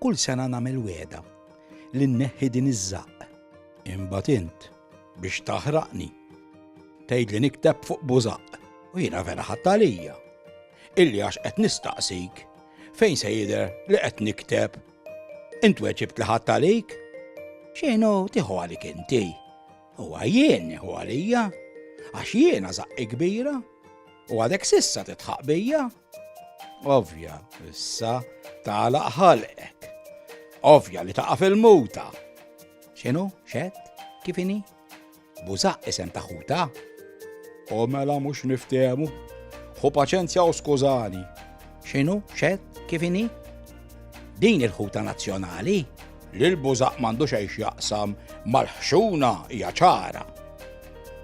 Kull sena nagħmel weda li nneħħi din iż-żaqq. Imbagħad int biex taħraqni. Tgħid li nikteb fuq bużaq u jiena vera ħadd għalija. Illi għax qed nistaqsik fejn se jidher li qed nikteb. Int weġibt li ħadd għalik? Xejn hu tieħu għalik inti. Huwa jien nieħu għalija, għax jiena zaqqi kbira, u għadek sissa titħaq bija. Ovja, issa tagħlaq ħalqek. Ovja li taqa' fil-muta. X'inhu, xed, kif inhi? Bużaq isem ta' ħuta. O mela mhux niftehmu. Hu paċenzja u skużani. X'inhu, xed, kif inhi? Din il-ħuta nazzjonali li l-bużaq m'għandu xejn x'jaqsam mal-ħxuna hija ċara.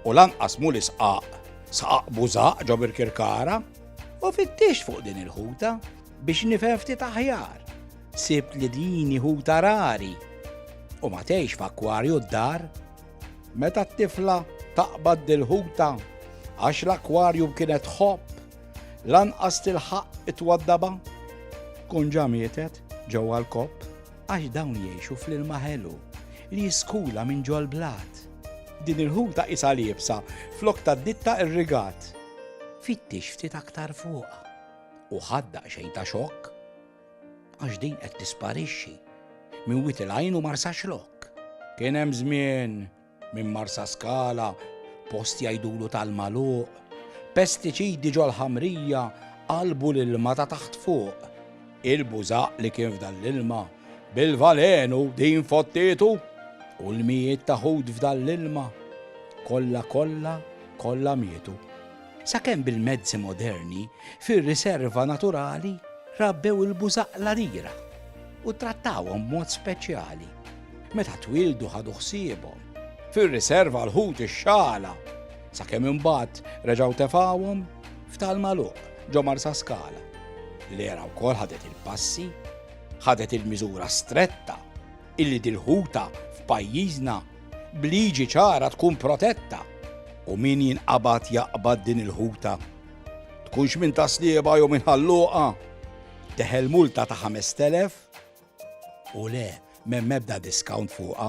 U lanqas mhu l-isqaq saqaq bużaq ġo Birkirkara u fittix fuq din il-ħuta biex nifhem ftit aħjar. Sibt li din ħuta rari u ma tgħix f'akwarju d-dar. Meta t-tifla taqbad dil-ħuta għax l-akwarju kienet ħobb Lanqas tilħaq it-twaddaba? Tkun ġa mietet ġewwa l-kopp għax dawn jgħixu fl-ilma ħelu li jiskula minn ġol-blat. Din il-ħuta isa liebsa flok tad-ditta irrigat. Fittix ftit aktar fuqha u ħaddaq xejn ta' xokk għax din qed tisparixxi minn wit il-għajn u marsax lok. Kien hemm żmien Minn Marsaskala, post jgħidulu tal-magħluq, pestiċidi ġol-ħamrija qalbu l-ilma ta' taħt fuq. Il-bużaq li kien f'dan l-ilma, bil-valenu din fottietu, u l-mijiet ta' ħut f'dan l-ilma, kollha kollha kollha mietu. Sakemm bil-mezzi moderni, fir-riserva naturali rabbew il-bużaqq l-għadira u ttrattawhom b'mod speċjali. Meta twieldu ħadu ħsiebhom. Fir-riserva l-ħut ix-xagħla, sakemm imbagħad reġgħu tefgħuhom f'tal magħluq ġo Marsaskala. L-era wkoll ħadet il-passi, ħadet il-miżura stretta illi dil-ħuta f'pajjiżna b'liġi ċara tkun protetta u min jinqabad jaqbad din il-ħuta, tkunx minn Ta' Slieba jew minn Ħal Luqa, teħel multa ta' 5,000 u le, m'hemm ebda discount fuqha.